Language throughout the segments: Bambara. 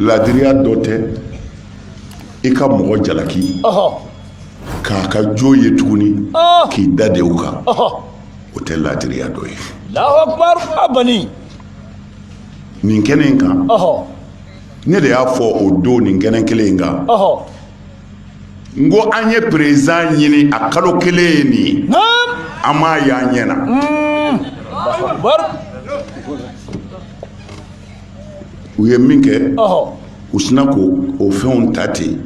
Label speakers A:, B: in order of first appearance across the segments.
A: laadiriya dɔ tɛ i ka mɔgɔ jalaki k'a ka jo ye tuguni k'i da de u kan o tɛ laadiriya dɔ ye
B: nin
A: kɛnɛ in kan ne de y'a fɔ o don nin kɛnɛ kelen in kan n ko an ye président ɲini a kalo kelen ye nin ye an m'a y'an ɲɛ na
B: hmm.
A: u ye min kɛ u sinna k'o fɛnw ta ten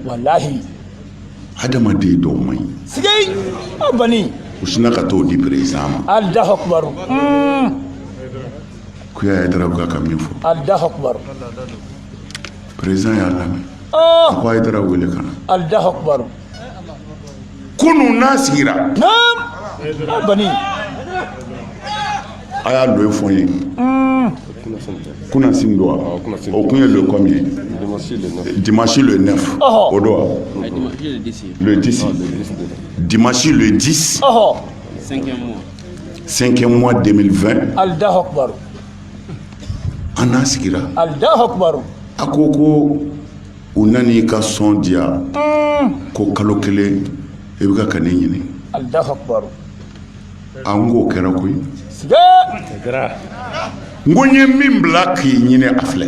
A: adamaden dɔw man
B: ɲi u sinna ka t'o
A: di président
B: ma ko
A: Haidara ka min fɔ président y'a lamɛn a ko Haidara wele ka na kunun n'a sigira
B: a
A: y'a lo fɔ ye kunun sin don o kun ye lo kɔmi ye dimasi lo ne o don wa lo disi dimasi lo disi senkɛ mɔ denmisɛnnin fɛn an n'a sigira
B: a ko ko
A: u nana i ka son di yan ko kalo kelen i bɛ ka ka ne
B: ɲini an
A: k'o kɛra koyi n ko n ye min bila k'i ɲini a filɛ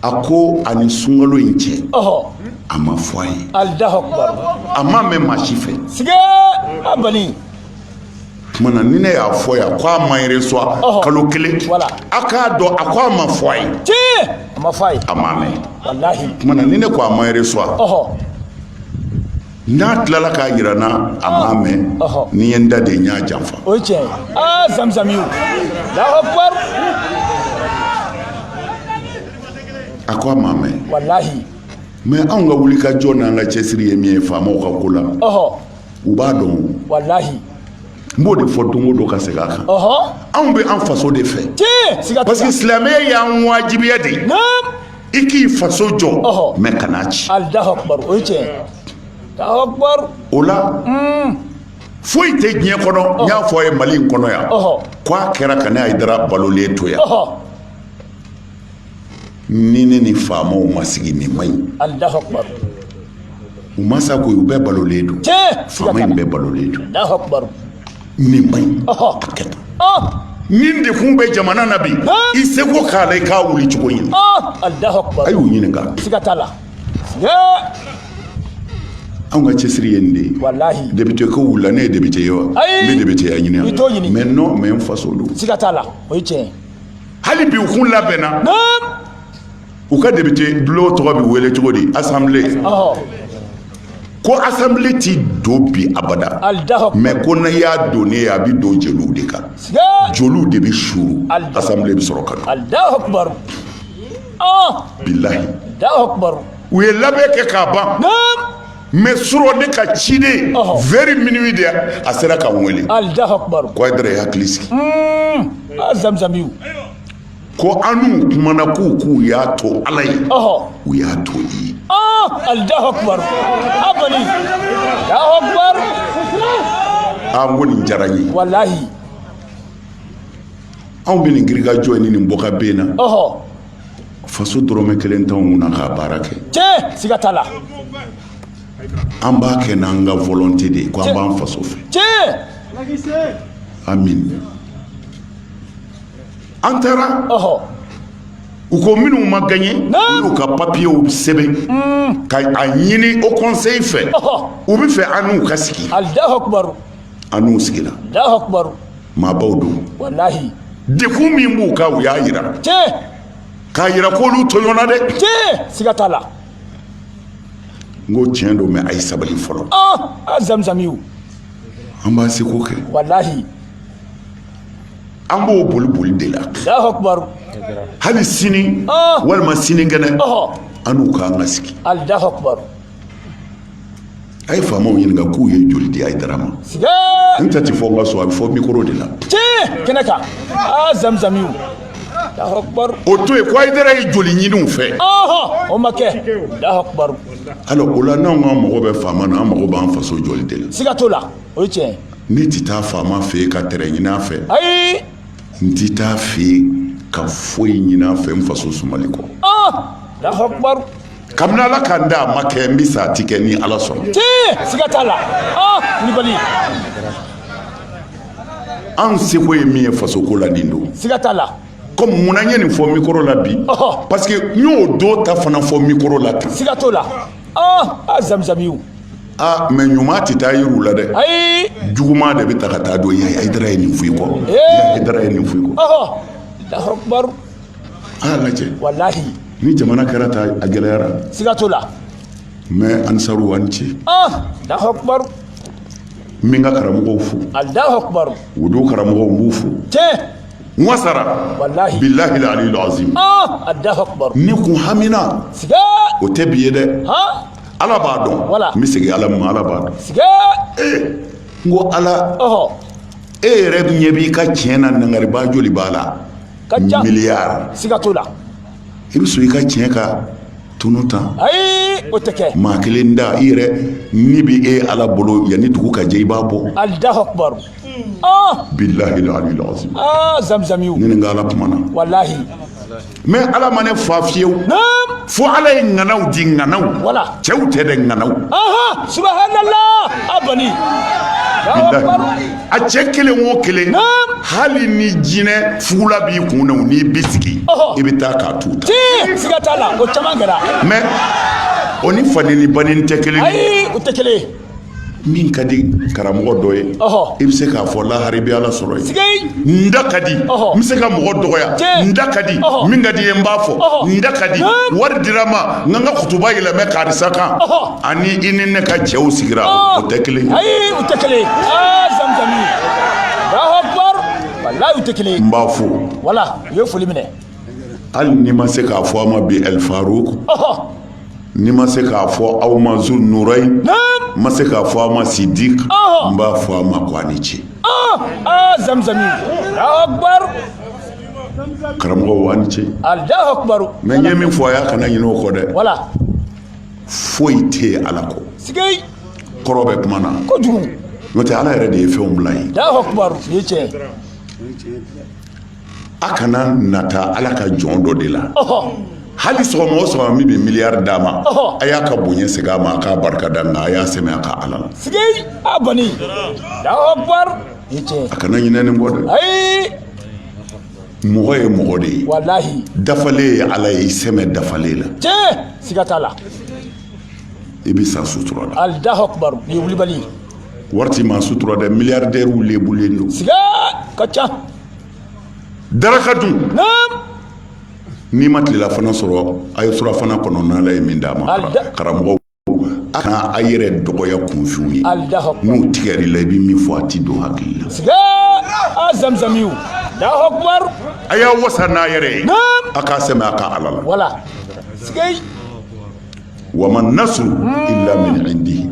A: a ko a ni sunkalo in cɛ a ma fɔ a ye a
B: ma mɛn maa si
A: fɛ tuma na ni ne y'a fɔ yan ko a ma reçoit Ɔhɔ. kalo kelen Voilà. a k'a dɔn a ko a ma fɔ a ye tiɲɛ a ma fɔ a
B: ye a ma mɛn walahi
A: tuma na ni
B: ne ko a ma
A: reçoit ɔhɔ n'a tilala k'a jira n na a ma mɛn Ɔhɔ. ni n ye n da de n y'a janfa o ye tiɲɛ ye
B: aa zamzami Allahu
A: akbar a ko a ma mɛn walahi
B: mais anw ka
A: wulikajɔ n'an ka cɛsiri ye min ye faamaw ka ko la ɔhɔ u b'a dɔn
B: walahi n b'o
A: de fɔ don o don ka segin a kan anw bɛ an faso de fɛ parce que silamɛya y'an wajibiya de i k'i faso jɔ mais kan'a
B: ci o la
A: hmm. foyi tɛ diɲɛ kɔnɔ n y'a fɔ a ye mali in kɔnɔ yan ko a kɛra ka ne Haidara balolen to yan ni ne ni faamaw ma sigi nin man ɲi u ma sa ko u bɛɛ balolen don faama in bɛɛ balolen don
B: nin
A: man ɲi a kɛ tan nin dekun bɛ jamana na bi i seko k'a la i k'a wuli cogo ɲini
B: a y'u
A: ɲininka anw ka cɛsiri ye nin de ye walahi député ko
B: wulila ne ye
A: député ye wa n bɛ député ya ɲini yan mais non
B: mais n faso
A: don siga t'a la o ye tiɲɛ
B: ye hali bi u
A: kun labɛnna u ka député bulon tɔgɔ bɛ wele cogo di assemblée ko assemblée ti don bi abada mais ko n'a y'a donnen ye a bɛ don jeliw de kan jeliw de bɛ suuru assemblée bɛ sɔrɔ ka
B: don bilahi u ye labɛn kɛ
A: k'a ban mais suro ne ka ciden vers minuit de a sera ka n wele ko hayidara
B: i hakili sigi
A: zamzamiw ko anw kumana k'u k'u y'a to ala ye u y'a to i ye ali n ko nin diyara n ye walayi anw bɛ nin girinkajɔ ni nin bɔka bɛn na faso dɔrɔmɛ kelen t'anw kunna k'a baara kɛ tiɲɛ siga t'a la an b'a kɛ n'an ka volonté de ye ko an b'an faso fɛ tiɲɛ
B: amin
A: an taara ɔhɔ u ko minnu ma gagné Naam. u y'u ka papiyew sɛbɛn ka a ɲini au conseil fɛ Ɔhɔ. u bɛ fɛ an n'u ka sigi alahu akubaru
B: an n'u sigira maabaw don dekun min
A: b'u kan u y'a
B: yira k'a yira
A: k'olu tɔɲɔna dɛ siga t'a la n ko tiɲɛ don mais a ye sabali fɔlɔ a zamzamiw an b'an seko kɛ walahi an b'o boli boli de la hali sini walima sinikɛnɛ an n'u k'an ka sigi a ye faamaw ɲininka k'u ye joli di hayidara ma n ta ti fɔ n ka so a bɛ fɔ mikoro de la kɛnɛ kan
B: aa zamizamiw o to yen ko hayidara
A: ye joli ɲini u fɛ o ma kɛ
B: alors o la
A: n'anw k'an mago bɛ faama na an mago b'an faso jɔli de la siga t'o la o ye
B: tiɲɛ ye ne ti taa
A: faama fɛ yen ka terrain ɲini a fɛ ayi n ti taa a fɛ yen ka foyi ɲini a fɛ n faso sumali kɔ
B: kabini ala
A: k'an da a ma kɛ n bɛ sa a ti kɛ ni ala sɔnna siga t'a
B: la
A: kulibali an seko ye min ye fasoko la nin don siga t'a la
B: comme mun na n ye nin
A: fɔ mikoro la bi parce que n y'o don ta fana fɔ mikoro la tan siga t'o
B: la a zamizamiw
A: aa mais ɲuman tɛ taa yira u la dɛ ayi juguman
B: de bɛ ta ka
A: taa don yen hayidara ye nin f'i kɔ hayidara ye nin f'i kɔ
B: an y'a
A: lajɛ
B: walahi ni jamana
A: kɛra tan a gɛlɛyara siga t'o
B: la mɛ
A: ansaru a ni ce allahu
B: akbar n
A: bɛ n ka karamɔgɔw fo allahu akbar
B: wudu karamɔgɔw
A: n b'u fo tiɲɛ n wasara walahi
B: bilahi aliyul
A: azim ah allahu
B: akbar ne kun
A: hamina siga
B: o tɛ bi ye
A: dɛ ha ala b'a dɔn Wala. n bɛ segin ala ma ala b'a dɔn siga n ko ala ɔhɔ e yɛrɛ ɲɛ b'i ka tiɲɛ na nangariba joli b'a la ka ca miliyari siga t'o
B: la i bɛ
A: sɔn i ka tiɲɛ ka tunu tan ayi o tɛ
B: kɛ maa kelen da i yɛrɛ
A: ni bɛ e ala bolo yanni dugu ka jɛ i b'a bɔ allahu akbar
B: ah
A: bilahi aliyul azim ah zamzamiw ne
B: ni n ka ala kumana walahi
A: mɛ ala ma ne fa fiyewu naam fo ala ye ŋanaw di ŋanaw Wala. cɛw tɛ dɛ ŋanaw aha subhanallah
B: abani bilahi
A: a cɛ kelen o kelen hali ni jinɛ fugula b'i kun na n'i bɛ sigi i bɛ taa k'a tu ta siga t'a la o
B: caman kɛra mɛ
A: o ni fa nɛni ba nɛni tɛ kelen ayi o tɛ kelen
B: min
A: ka di karamɔgɔ dɔ ye i bɛ se k'a fɔ lahara i bɛ ala sɔrɔ yen n da ka di n bɛ se ka mɔgɔ dɔgɔya n da ka di min ka di n ye n b'a fɔ n da ka di wari dira n ma n ka n ka kutuba yɛlɛmɛ karisa kan Ani i ni ne ka cɛw sigira o tɛ kelen o
B: tɛ kelen tɛ kelen n b'a fo wala
A: u ye foli
B: minɛ hali ni
A: n ma se k'a fɔ aw ma bi alifaruku ni n ma se k'a fɔ aw ma zunurayini n ma se k'a fɔ aw ma sidiki n b'a fɔ aw ma ko a ni
B: ce
A: karamɔgɔw a ni ce
B: mɛ n ye min fɔ a ye
A: a kana ɲinɛ o kɔ dɛ foyi tɛ yen ala kɔ
B: kɔrɔ bɛ kuma
A: na n'o
B: tɛ ala yɛrɛ
A: de ye fɛnw bila ye a kana nata ala ka jɔn dɔ de la hali sɔgɔma o sɔgɔma min bɛ miliyari d'a ma a y'a ka bonya segin a ma a k'a barika da nka a y'a sɛmɛ a ka ala la a bani
B: a kana ɲinɛ nin kɔ dɛ
A: mɔgɔ ye mɔgɔ de ye walahi
B: dafalen ye
A: ala ye i sɛmɛ dafalen la tiɲɛ siga t'a la i bɛ sa sutura la allahu akbar nin ye
B: wulibali ye wari tɛ
A: maa sutura dɛ miliyardɛriw lebulen don siga ka ca daraka dun naam n'i ma tilelafana sɔrɔ a ye surafana kɔnɔ n'ala ye min d'a ma Alida- karamɔgɔw a kana a yɛrɛ dɔgɔya kunfinw ye n'u tigɛr'i la i bɛ min fɔ a tɛ don hakili la a
B: zamzamiw a y'a wasa
A: n'a yɛrɛ ye a k'a sɛmɛ a ka ala la wama nasuru illa min indihi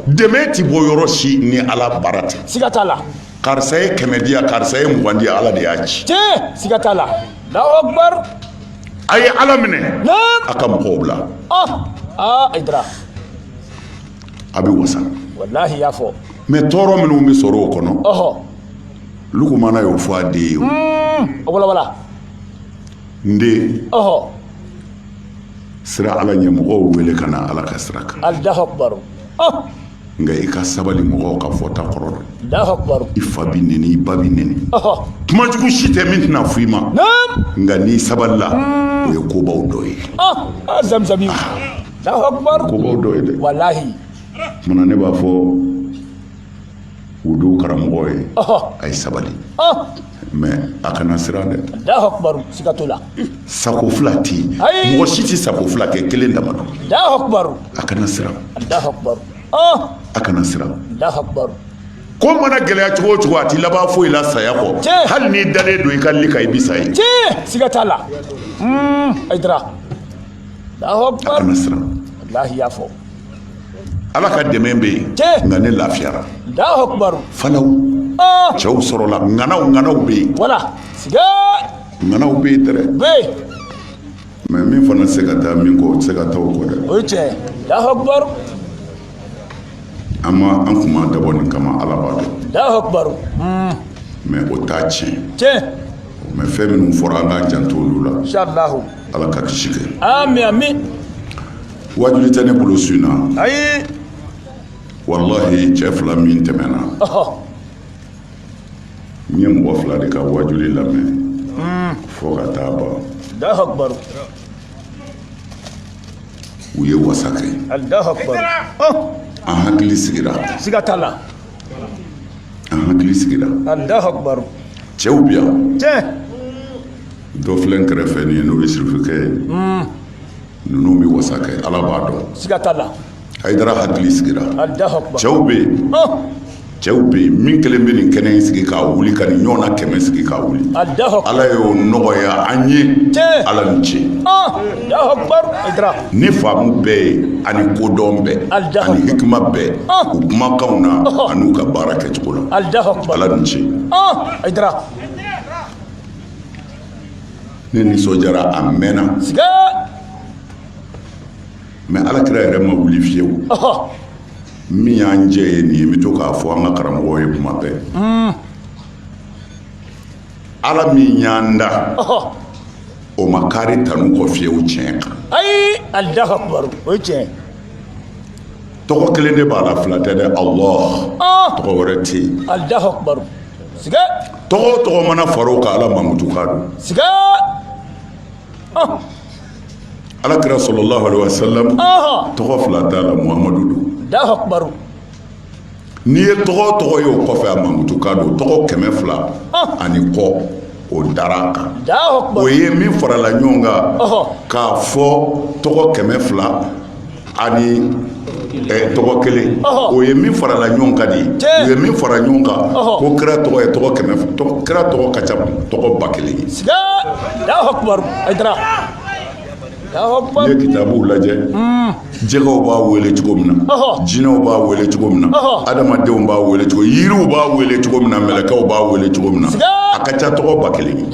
A: dɛmɛ
B: tɛ bɔ yɔrɔ
A: si ni ala baara tɛ siga t'a la
B: karisa ye kɛmɛ di
A: yan karisa ye mugan di yan ala de y'a ci tiɲɛ siga t'a la
B: Allahu akbar a
A: ye ala minɛ a ka mɔgɔw bila Hayidara a bɛ wasa
B: wallahi y'a fɔ mais tɔɔrɔ minnu bɛ
A: sɔrɔ o kɔnɔ lukumana y'o fɔ a den ye n den siran ala ɲɛ mɔgɔw wele ka na ala ka sira kan nka i ka sabali mɔgɔw ka fɔta kɔrɔ dɛ i
B: fa bɛ nɛni
A: i ba bɛ nɛni kuma jugu si tɛ min tɛna fɔ i ma nka n'i sabalila o ye kobaw dɔ
B: ye kobaw dɔ
A: ye dɛ o
B: kama na ne b'a
A: fɔ wudu karamɔgɔ ye a ye sabali mais a kana siran dɛ siga t'o
B: la sako fila
A: tɛ yen mɔgɔ si tɛ sako fila kɛ kelen dama a kana
B: siran a kana
A: siran
B: ko
A: mana gɛlɛya cogo o cogo a tɛ laban foyi la saya kɔ hali n'i dalen don i ka li kan i bi sa ye siga t'a la
B: a kana siran
A: wallahi y'a fɔ Ala ka dɛmɛ bɛ yen nka ne
B: lafiyara fana
A: cɛw sɔrɔla ŋanaw ŋanaw bɛ yen
B: ŋanaw
A: bɛ yen dɛrɛ mais min fana tɛ se ka taa min kɔ o tɛ se ka taa o kɔ dɛ o ye
B: tiɲɛ
A: an ma an kun ma dabɔ nin kama Ala b'a dɔn
B: mais
A: o t'a tiɲɛ mais fɛn minnu fɔra an k'an janto olu la Ala ka
B: kisi kɛ.
A: wajuli tɛ ne bolo su na
B: ayi
A: wallahi cɛ fila min tɛmɛna n ɲɛ mɔgɔ fila de ka wajuli lamɛn hmm. fo ka taa ban u ye wasa
B: kɛ
A: an hakili sigira siga t'a la an hakili
B: sigira cɛw bi yan
A: dɔ filɛ n kɛrɛfɛ nin ye n'o ye sirifukɛ ye hmm. ninnu bɛ wasa kɛ ala b'a dɔn siga t'a
B: la Hayidara
A: hakili sigira Alahu akibaru. cɛw
B: bɛ yen
A: Ɔn, cɛw bɛ yen min kelen bɛ nin kɛnɛ in sigi k'a wuli ka nin ɲɔgɔnna kɛmɛ sigi k'a wuli Alahu akibaru. ala y'o
B: nɔgɔya
A: an ye Tiɲɛ. ala ni ce Ɔn, Alahu
B: akibaru. Hayidara. ni
A: faamu bɛɛ ye ani kodɔn bɛɛ Alahu ani hikima bɛɛ Ah. u kumakanw na Ɔhɔ. an'u ka baara kɛcogo la Alahu akibaru. ala ni ce
B: Ɔn,
A: Hayidara. ne nisɔndiyara a mɛnna mɛ ala kira yɛrɛ ma wuli fiyewu min y'an jɛ ye nin ye n bɛ to k'a fɔ an ka karamɔgɔw ye kuma bɛɛ hmm. ala min y'an da o ma kari tanu kɔ fiyewu tiɲɛ kan ayi allahu
B: akbar o ye tiɲɛ
A: tɔgɔ kelen de b'a la fila tɛ dɛ allah ah! tɔgɔ wɛrɛ tɛ yen allahu
B: akbar siga tɔgɔ o tɔgɔ
A: mana fara o kan ala mankutu kan don siga ah! ala kira sallallahu alaihi wa sallam tɔgɔ fila t'a la muhamadu don allahu akbar n'i ye tɔgɔ o tɔgɔ ye o kɔfɛ a mankutu kan don tɔgɔ kɛmɛ fila ah! ani kɔ o dara kan o
B: ye min farala
A: ɲɔgɔn kan k'a fɔ tɔgɔ kɛmɛ fila ani tɔgɔ kelen o ye min farala ɲɔgɔn kan de u ye min fara ɲɔgɔn kan ko kira tɔgɔ ye tɔgɔ kɛmɛ kira tɔgɔ ka ca tɔgɔ ba kelen ye
B: n'i ye kitabuw
A: lajɛ jɛgɛw b'a wele cogo min na jinɛw b'a wele cogo min na adamadenw b'a wele cogo yiriw b'a wele cogo min na mɛlɛkɛw b'a wele cogo min na a ka ca tɔgɔ ba kelen ye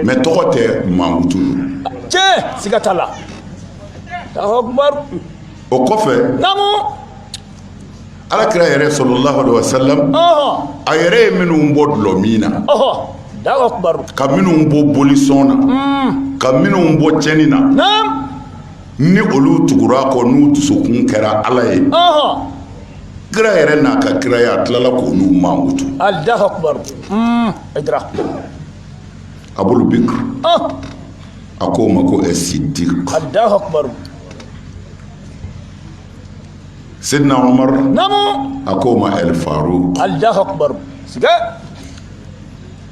A: mɛ
B: tɔgɔ
A: tɛ mankutu don
B: tiɲɛ siga t'a la o kɔfɛ
A: ala kira yɛrɛ sallallahu alaihi wa sallam a yɛrɛ ye minnu bɔ dulɔ min
B: na ka minnu
A: bɔ bolisɔn na hmm. ka minnu bɔ cɛnni na
B: ni
A: olu tugura a kɔ n'u dusukun kɛra ala ye kira yɛrɛ n'a ka kiraya a tilala k'olu mankutu hmm. abul bikr a ko o ma ko ɛ siddiq Sina a ko
B: o ma ali
A: faaro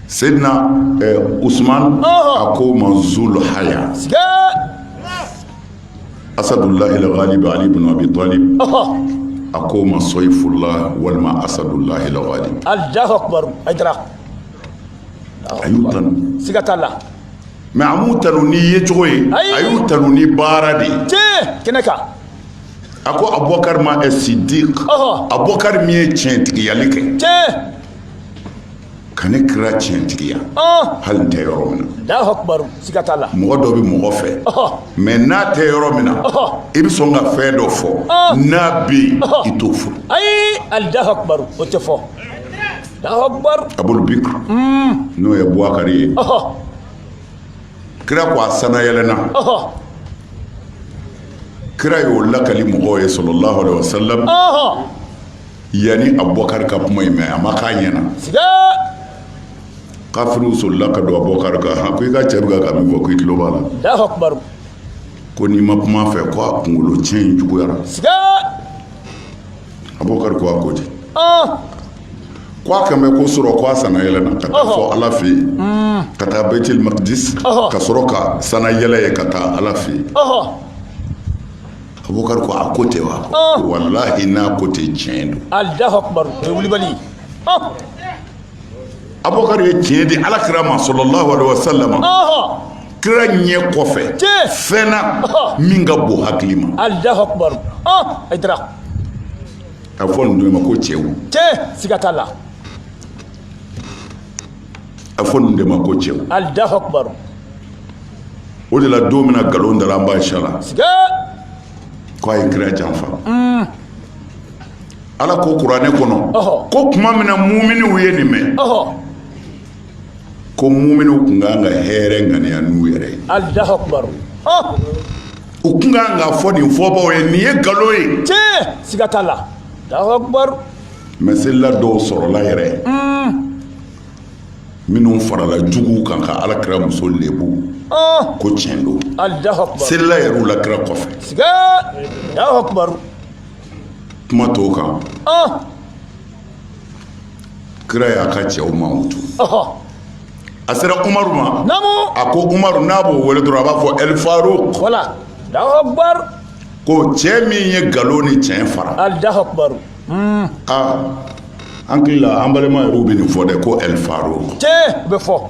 A: sina u suman a ko ma zolo haya asadu lahilali don ali bɛna bi dɔɔnin a ko ma sɔn i furula walima asadu layi
B: a
A: y'u tan siga ka la
B: mɛ a
A: m'u tanu ni yecogo ye a y'u tanu ni baara de ye kɛnɛ
B: kan a
A: ko abubakari ma siddiq abubakari min ye tiɲɛtigiyali kɛ ka ne kira tiɲɛtigiya hali n tɛ yɔrɔ min
B: na mɔgɔ dɔ bɛ mɔgɔ
A: fɛ mɛ n'a tɛ yɔrɔ min na i bɛ sɔn ka fɛn dɔ fɔ n'a bɛ yen i t'o fɔ ayi allahu
B: akbar o tɛ fɔ abul
A: bikr n'o ye buwakari ye kira ko a sana yɛlɛnna kira y'o lakali mɔgɔw ye sallallahu alaihi wasallam yanni abubakar ka kuma in mɛn a ma k'a
B: ɲɛna
A: kafiriw solila ka don abubakar kan ha ko i ka cɛ bɛ ka min fɔ ko i tulo b'a la
B: ko n'i
A: ma kuma fɛ ko a kunkolo cɛn in juguyara abubakar ko a ko di ko a kan bɛ ko surɔ ko a sana yɛlɛnna ka taa fɔ ala fɛ yen ka taa baitul makdis ka sɔrɔ ka sana yɛlɛ yen ka taa ala fɛ yen abubakar ko a ko ten wa walahi n'a ko ten tiɲɛ don alahu akbar o
B: ye wulibali
A: ye abubakar ye tiɲɛ di ala kira ma sallallahu alaihi wasallam kira ɲɛ kɔfɛ fɛn na min ka bon hakili ma alahu
B: akubaru a
A: dira a bɛ fɔ ninnu ma ko cɛw tiɲɛ siga t'a la a bɛ fɔ ninnu de ma ko cɛw alahu akubaru o de la don min na nkalon dara an ba aisha la ko a ye kira janfa mm. ala ko kuranɛ kɔnɔ ko tuma min na muminiw ye nin mɛn ko muminiw tun kan ka hɛrɛ ŋaniya n'u yɛrɛ ye u tun kan k'a fɔ nin fɔbaw ye nin ye nkalon ye siga t'a la
B: mɛ selila
A: dɔw sɔrɔla yɛrɛ minnu farala juguw kan ka ala kira muso lebu ko tiɲɛ don selila
B: yɛrɛ u la kira
A: kɔfɛ kuma t'o kan kira y'a ka cɛw mankutu a sera umaru ma a ko
B: umaru n'a
A: b'o wele dɔrɔn a b'a fɔ
B: ɛlifaruk ko cɛ
A: min ye nkalon ni tiɲɛ fara hmm. aa an hakili la an balima yɛrɛw bɛ nin fɔ dɛ ko ɛlifaruk tiɲɛ bɛ
B: fɔ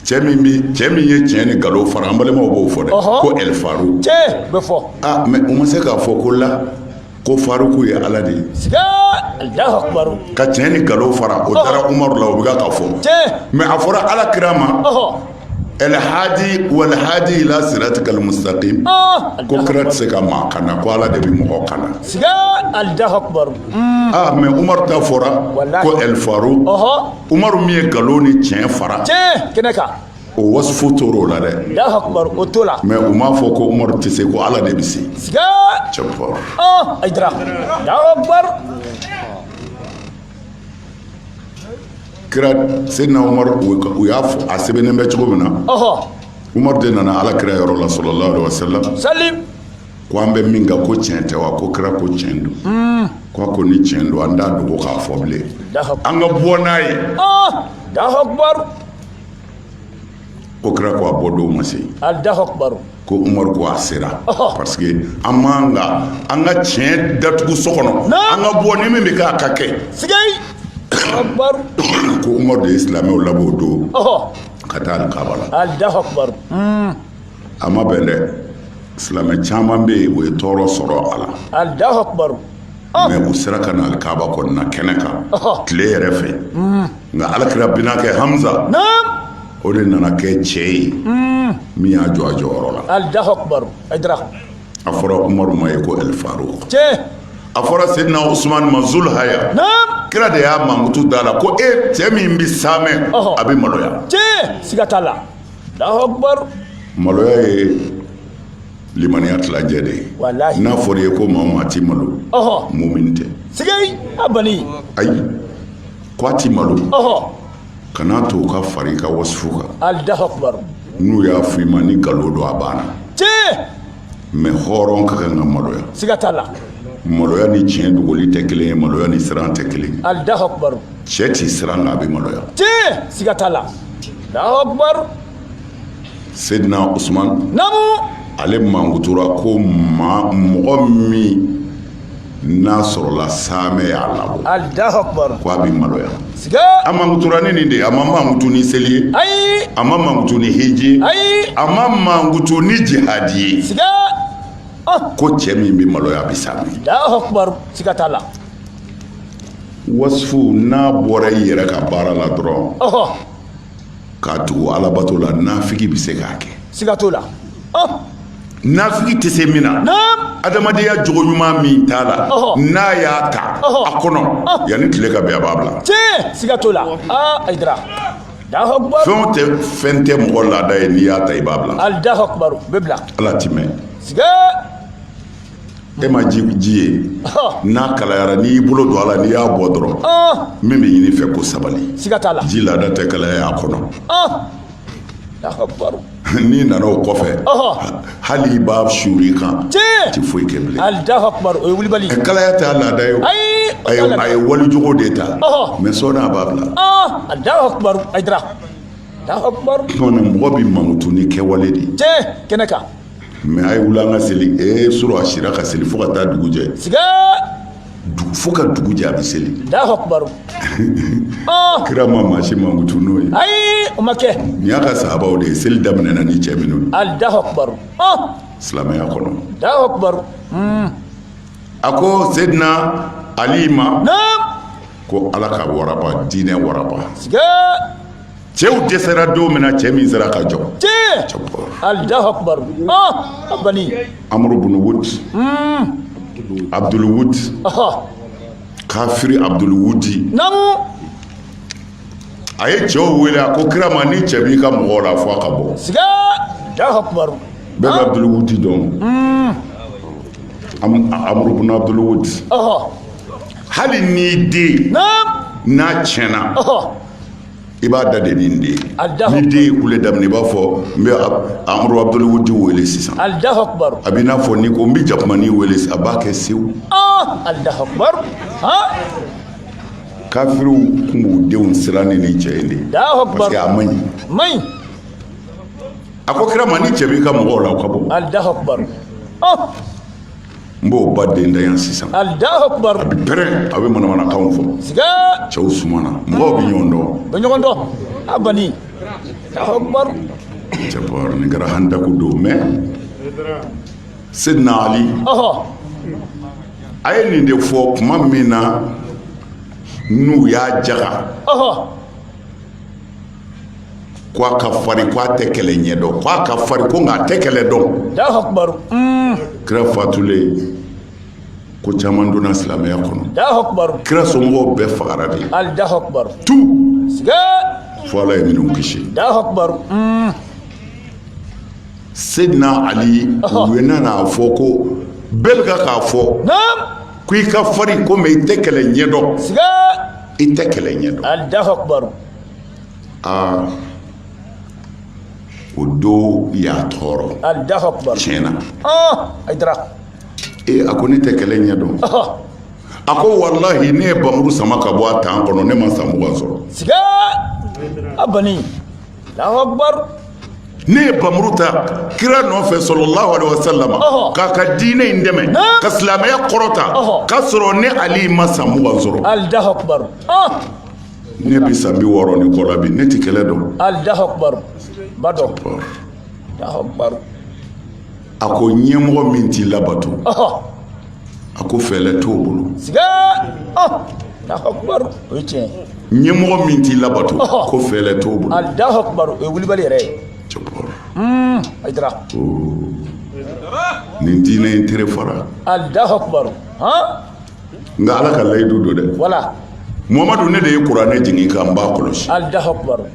A: cɛ min bi cɛ min ye tiɲɛ ni nkalon fara an balimaw b'o fɔ dɛ ko ɛlifaruk tiɲɛ bɛ fɔ
B: aa mɛ u ma se k'a
A: fɔ ko la ko faruku ye ala de
B: ye ka tiɲɛ ni
A: nkalon fara o taara umaru la o bɛ ka fɔ mɛ a fɔra ala kira ma alhadi walhadi ila siratikal mustakim ko kira tɛ se ka maa kana ko ala de bɛ mɔgɔ
B: kana aa
A: mɛ umaru ta fɔra ko ɛlifaruk umaru min ye nkalon ni tiɲɛ fara
B: o
A: wasifu tora o la dɛ o to
B: la mɛ u m'a fɔ ko
A: umaru tɛ se ko ala de bɛ se kira sedina umaru u y'a fɔ a sɛbɛnnen bɛ cogo min na umaru de nana ala kira yɔrɔ la salalahu alayihi
B: wa salamu ko an
A: bɛ min kan ko tiɲɛ tɛ wa ko kira ko tiɲɛ don hmm. ko ko ni tiɲɛ don an t'a dogo k'a fɔ bilen an ka bɔ n'a ye ko kira ko a bɔ don ma
B: se alahu akubaru ko umaru ko
A: a sera parce que an man kan an ka tiɲɛ datugu so kɔnɔ an ka bɔ ni min bɛ kɛ a ka
B: kɛ
A: ko umaru de ye silamɛw labɔ o don ka taa alikaba la a ma bɛn dɛ silamɛ caman bɛ yen o ye tɔɔrɔ sɔrɔ a la alahu
B: akubaru mɛ
A: u sera ka na alikaba kɔnɔna kɛnɛ kan tile yɛrɛ fɛ nka alakira binakɛ hamza o de nana kɛ cɛ ye min y'a jɔ a jɔyɔrɔ la alahu akubaru
B: ayidara a
A: fɔra umaru ma ye ko alifaruku tiɲɛ
B: a fɔra
A: sedina usumani ma zul haya kira de y'a mankutu da la ko e cɛ min bɛ saamɛ a bɛ maloya tiɲɛ siga t'a la
B: maloya
A: ye limaniya tilancɛ de ye n'a fɔra i ye ko maa o maa tɛ malo mumini tɛ ayi ko a tɛ malo kan'a to u ka fara i ka wasifu kan alahu
B: akubaru n'u y'a fɔ i
A: ma ni nkalon don a banna mɛ hɔrɔn ka kan ka maloya siga t'a
B: la maloya ni
A: tiɲɛ dogoli tɛ kelen ye maloya ni siran tɛ kelen ye alahu akubaru cɛ
B: tɛ siran nka
A: a bɛ maloya tiɲɛ siga
B: t'a la alahu
A: akubaru sedina usman namu ale
B: mankutura
A: ko mɔgɔ min n'a sɔrɔla saamɛ y'a labɔ Alahu akibaru
B: ko a bɛ
A: maloya siga a
B: mankutura ni
A: nin de ye a ma mankutu ni seli ye ayi a ma mankutu
B: ni
A: hiji ye ayi a ma
B: mankutu
A: ni jihadi ye
B: siga ah
A: ko cɛ min bɛ maloya a bɛ saamɛ Alahu akibaru
B: siga t'a la wasifu
A: n'a bɔra i yɛrɛ ka baara la dɔrɔn ɔhɔ k'a tugu alabato la nafigi bɛ se k'a kɛ siga t'o la nafigi tɛ se min na adamadenya jogo ɲuman min t'a la n'a y'a ta a kɔnɔ yanni tile ka bin a b'a bila siga
B: t'o la fɛn tɛ fɛn tɛ
A: mɔgɔ laada ye n'i y'a ta i b'a bila bɛ
B: bila ala tɛ mɛn
A: e ma ji ji ye n'a kalayara n'i y'i bolo don a la n'i y'a bɔ dɔrɔn min bɛ ɲini i fɛ ko sabali ji laada
B: tɛ kalaya a
A: kɔnɔ
B: n'i nana o
A: kɔfɛ hali i b'a suuru i kan a tɛ foyi kɛ
B: bilen kalaya tɛ a
A: laada ye a ye walijogo de ta mɛ sɔɔni a b'a bila
B: mɔgɔ bɛ
A: mankutu n'i kɛwale de ye
B: mɛ a ye
A: wuli an ka seli ee su rɔ a sira ka seli fo ka taa dugu jɛ fo ka dugu jɛ a bɛ seli kira ma maa si mankutu n'o ye ayi o ma kɛ
B: nin y'a ka sahabaw de
A: ye seli daminɛna ni cɛ minnu
B: ye
A: silamɛya kɔnɔ hmm. a ko sedina ali ma
B: ko ala ka
A: waraba diinɛ waraba cɛw dɛsɛra don min na cɛ min sera ka
B: jɔ alahu akubaru a bani amuru
A: bunu wud abdul wud kafiri abdul wudi naamu a ye cɛw wele a ko kira ma ni cɛ b'i ka mɔgɔw la a fɔ a ka bɔ
B: siga alahu akubaru bɛɛ bɛ
A: abdul wudi dɔn amuru bunu abdul wudi hali n'i den n'a tiɲɛna i b'a da de nin de ye ni den ye kule daminɛ i b'a fɔ n bɛ amuru abudulwudi wele sisan a bɛ
B: i n'a fɔ ni ko n bɛ
A: jakumani wele a b'a kɛ sewu kafiriw tun b'u denw siran ni nin cɛ in de ye parce que a man ɲi a ko kira ma ni cɛ b'i ka mɔgɔw la o ka bɔ n b'o ba den da yan sisan a
B: bɛ pɛrɛn a
A: bɛ manamanakanw fɔ
B: cɛw
A: sumana mɔgɔw bɛ ɲɔgɔn dɔn bɛ ɲɔgɔn dɔn a bani
B: cɛ bɔra
A: nin kɛra handaku don mɛ Seydina Ali a ye nin de fɔ tuma min na n'u y'a jaga k' a ka fari ko a tɛ kɛlɛ ɲɛ dɔn k' a ka fari ko nka a tɛ kɛlɛ
B: dɔn
A: kira fatulen ko caman donna silamɛya kɔnɔ kira
B: somɔgɔw bɛɛ
A: fagara de
B: fo ala
A: ye minnu kisi sedina ali u nan'a fɔ ko bɛɛ bɛ k'a fɔ ko i ka fari ko mɛ i tɛ kɛlɛ ɲɛdɔn
B: i tɛ
A: kɛlɛ ɲɛdɔn aa o don i y'a tɔɔrɔ Alahu akibaru.
B: tiɲɛ na
A: Ɔn Ayidara.
B: ee
A: a ko ne tɛ kɛlɛ ɲɛ dɔn Ɔhɔ. a ko walahi ne ye bamuru sama ka bɔ a tan kɔnɔ ne ma san mugan sɔrɔ
B: Siga. A bani. Alahu akibaru. ne
A: ye bamuru ta kira nɔfɛ sɔlɔlahu alaihi wasallam Ɔhɔ. k'a ka diinɛ in dɛmɛ Naam. ka silamɛya kɔrɔta Ɔhɔ. k'a sɔrɔ ne Ali ma san mugan sɔrɔ Alahu akibaru.
B: Ɔn.
A: ne bɛ san bi wɔɔrɔ ni kɔ la bi ne tɛ kɛlɛ dɔn alahu
B: akibaru ba dɔn alahu
A: akibaru a ko ɲɛmɔgɔ min t'i labato a ko fɛɛlɛ t'o bolo siga
B: alahu akibaru o ye tiɲɛ ye ɲɛmɔgɔ min
A: t'i labato ko fɛɛlɛ t'o bolo alahu akibaru o
B: ye wulibali yɛrɛ ye cɛkɔrɔ hmm, ayidara
A: nin diinɛ in tere fara alahu
B: akibaru han
A: nka ala ka layidu don dɛ
B: wala muhamadu ne
A: de ye kuranɛ jigin k'an b'a kɔlɔsi alahu akibaru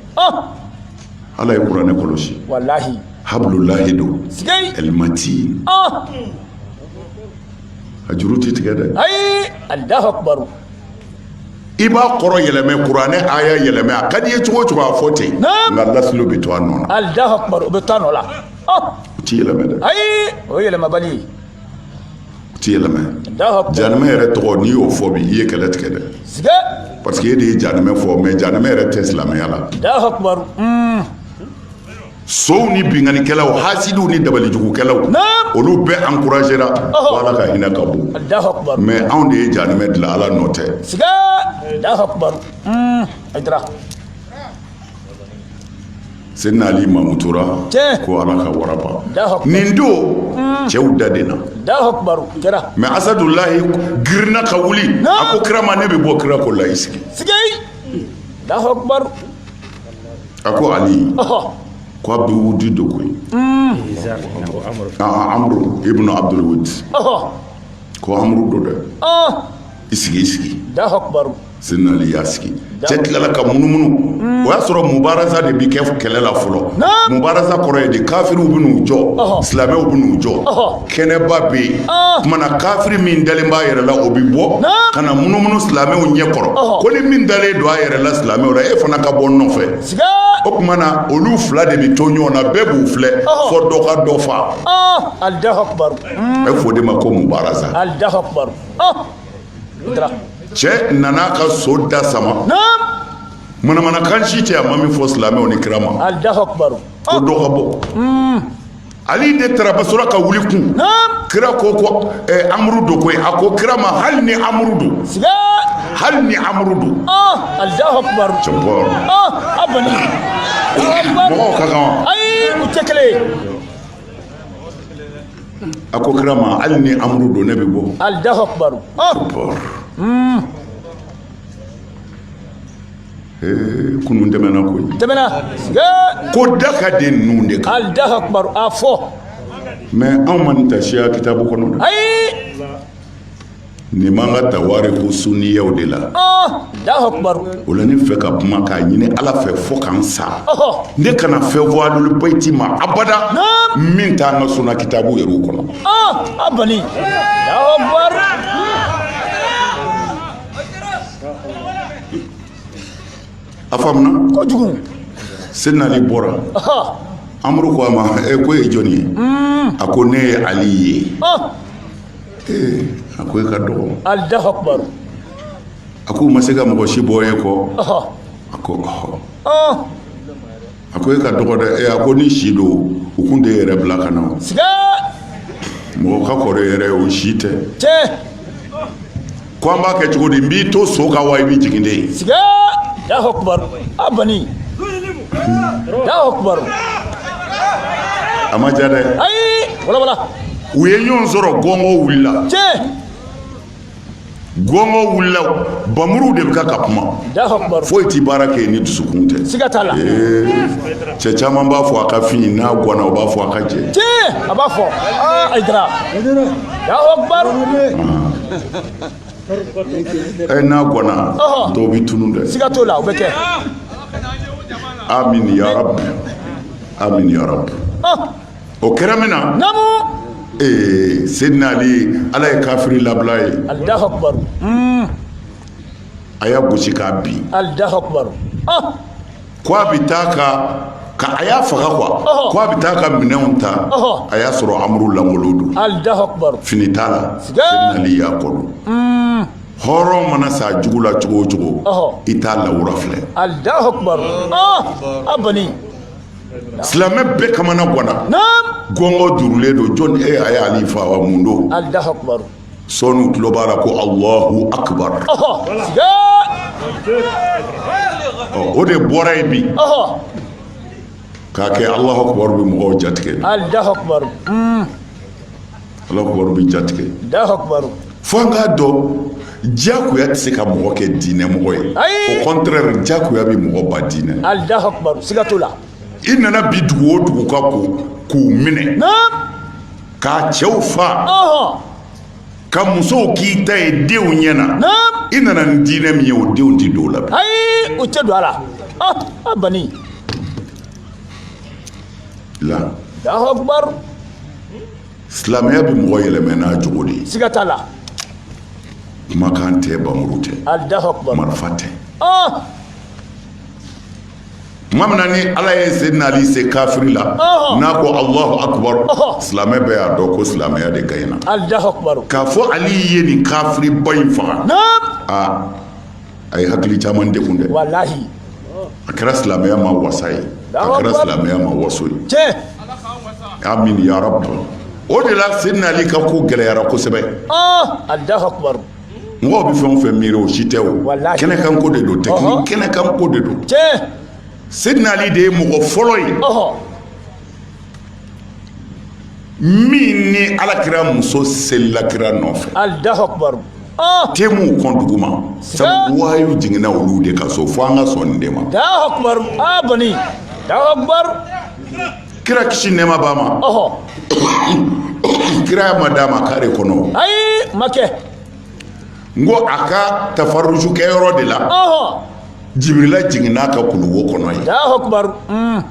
A: ala ye kuranɛ kɔlɔsi walahi
B: habululahi don
A: sigei alimati a juru ti tigɛ dɛ ayi alahu akibaru i b'a kɔrɔ yɛlɛmɛ kuranɛ aya yɛlɛmɛ a ka di i ye cogo o cogo a fɔ ten nka lasili o bɛ to a nɔ na alahu akibaru o bɛ to a nɔ
B: la o ti
A: yɛlɛmɛ dɛ ayi o ye yɛlɛmabali
B: ye
A: ti yɛlɛma
B: janɛmɛ yɛrɛ tɔgɔ n'i
A: y'o fɔ bi i ye kɛlɛ tigɛ dɛ
B: parce que e de ye
A: janɛmɛ fɔ mais janɛmɛ yɛrɛ tɛ silamɛya la sow ni binkanikɛlaw hasidiw ni dabalijugukɛlaw olu bɛɛ encouragera ko ala ka hinɛ ka bon
B: mais anw de ye janɛmɛ
A: dilan ala nɔ tɛ sedina ali mamutura ko ala ka waraba nin don cɛw da de na
B: mais asadulahi
A: girinna ka wuli a ko kira ma ne bɛ bɔ kira ko la i sigi a ko ali ko abudu wudi don koyi amuru ibunu abudu wudi ko amuru don dɛ i sigi i
B: sigi sedina ali y'a
A: sigi cɛ tilala ka munumunu o y'a sɔrɔ mubaraza de bɛ kɛ kɛlɛ la fɔlɔ mubaraza kɔrɔ ye de kafiriw bɛ n'u jɔ silamɛw bɛ n'u jɔ kɛnɛba bɛ yen tuma na kafiri min dalen b'a yɛrɛ la o bɛ bɔ ka na munumunu silamɛw ɲɛ kɔrɔ ko ni min dalen don a yɛrɛ la silamɛw la e fana ka bɔ nɔfɛ o tuma na olu fila de bɛ to ɲɔgɔn na bɛɛ b'u filɛ fo dɔ ka dɔ fa a
B: bɛ fɔ o de ma
A: ko mubaraza cɛ nana ka so da sama manamanakan si tɛ a ma min fɔ silamɛw ni kira ma ko
B: dɔ ka bɔ
A: ali de taara basora ka wuli kun kira ko ko eh, amuru don koyi a ko kira ma hali ni amuru don hali ni amuru don mɔgɔw ka kan wa ayi u tɛ kelen ye a ko kira ma hali ni amuru don ne bɛ bɔ alahu
B: akubaru hmm.
A: kunun tɛmɛna koyi ko da ka di ninnu de kan alahu akubaru
B: a
A: fɔ mais anw ma nin ta siya kitabu kɔnɔ
B: dɛ ayi
A: nin b'an ka tawariku sunniyaw de
B: la o la ne fɛ ka
A: kuma k'a ɲini ala fɛ fo ka n sa ne kana fɛn fɔ alulu bayiti ma abada min t'an ka sunna kitabu yɛrɛw kɔnɔ a faamuna
B: kojugu seyidina ali
A: bɔra amuru ko a ma e ko e ye jɔni ye a ko ne ye ali ye ee a ko e ka dɔgɔ alahu akubaru
B: a
A: ko u ma se ka mɔgɔ si bɔ e kɔ ɔhɔ a ko ɔhɔ ɔn a ko e ka dɔgɔ dɛ ee a ko ni si don u kun tɛ e yɛrɛ bila ka na o. siga mɔgɔ ka kɔrɔ e yɛrɛ o si tɛ cɛ ko an b'a kɛ cogo di n b'i to so kan wa i bɛ jigin de siga
B: alahu akubaru a bani alahu
A: akubaru a ma ja dɛ ayi walawala
B: u ye ɲɔgɔn
A: sɔrɔ gɔngɔ wulila tiɲɛ gɔngɔ wulila bamuru de bɛ ka ka kuma alahu akubaru foyi tɛ baara kɛ ni dusukun tɛ siga t'a la
B: ee cɛ
A: caman b'a fɔ a ka fin n'a gɔnna o b'a fɔ a ka jɛ tiɲɛ a b'a fɔ
B: aa ayidara alahu akubaru
A: e n'a gɔnna dɔw bɛ tunun dɛ siga t'o la o bɛ
B: kɛ amin
A: yarabi amin yarabi o kɛra min na namu ee seyidina ali ala ye kafiri labila a ye alahu akubaru a y'a gosi k'a bin alahu akubaru Ko a bɛ taa ka ka a y'a faga quoi ɔhɔ, ko a bɛ taa ka minɛnw ta ɔhɔ. a y'a sɔrɔ amuru lankolon don Allahu akbar. fini
B: t'a la Siga.
A: Seydina Ali y'a kɔ don hɔrɔn mana se a jugu la cogo o cogo Ɔhɔ. i t'a lawura filɛ Allahu
B: akbar. Ah, a
A: bani. silamɛ bɛɛ kamanaganna Naam. gɔngɔ duurulen don jɔni e a ye Ali fa wa mun don Allahu akbar.
B: sɔɔni u tulo
A: b'a la ko Alahu akibaru, o de bɔra yen bi k'a kɛ Alahu akibaru bɛ mɔgɔw jatigɛ, Alahu akibaru,
B: un, Alahu
A: akibaru bɛ jatigɛ, Alahu
B: akibaru, fo an k'a
A: dɔn diyagoya tɛ se ka mɔgɔ kɛ diinɛmɔgɔ ye, ayi, au contraire diyagoya bɛ mɔgɔ ban diinɛ na, Alahu akibaru, siga
B: t'o la, i nana
A: bin dugu o dugu kan k'u minɛ, naamu k'a cɛw faga k'a musow k'i ta ye denw ɲɛ na i nana ni diinɛ min ye o denw tɛ don o la ayi o tɛ don a
B: la a bani
A: la silamɛya bɛ mɔgɔ yɛlɛmɛ n'a jogo de ye siga t'a la kumakan tɛ npanmuru tɛ marifa
B: tɛ
A: tuma min na ni Ala ye Seydina Ali se kafiri la, ɔhɔ, n'a ko Alahu akibaru, ɔhɔ, silamɛ bɛɛ y'a dɔn ko silamɛya de gaɲɛna, Alahu akibaru, k'a
B: fɔ Ali ye
A: nin kafiriba in faga, naam, aa a ye hakili caman degun dɛ,
B: walahi, a
A: kɛra silamɛya ma wasa ye, Alahu akibaru. a kɛra silamɛya ma waso ye, tiɲɛ, amin ya rabi, o de la Seydina Ali ka ko gɛlɛyara kosɛbɛ. ɔɔ, Alahu
B: akibaru. mɔgɔw bɛ fɛn
A: o fɛn miiri o si tɛ o kɛnɛkanko de don tɛkini kɛnɛkanko de don Seydina Ali de ye mɔgɔ fɔlɔ ye min ni alakira muso selila kira nɔfɛ Alahu
B: akibaru
A: temiw kɔn duguma sabu wahayu jiginna olu de ka so fo an ka sɔn nin de ma Alahu akibaru a
B: banna Alahu akibaru
A: kira kisi nɛɛma b'a ma ɔhɔ kiraya ma d'a ma kare kɔnɔ ayi ma
B: kɛ
A: n ko a ka tafaruju kɛ yɔrɔ de la ɔhɔ jibirila jiginna a kan kuluwo kɔnɔ yen alahu akubar mm.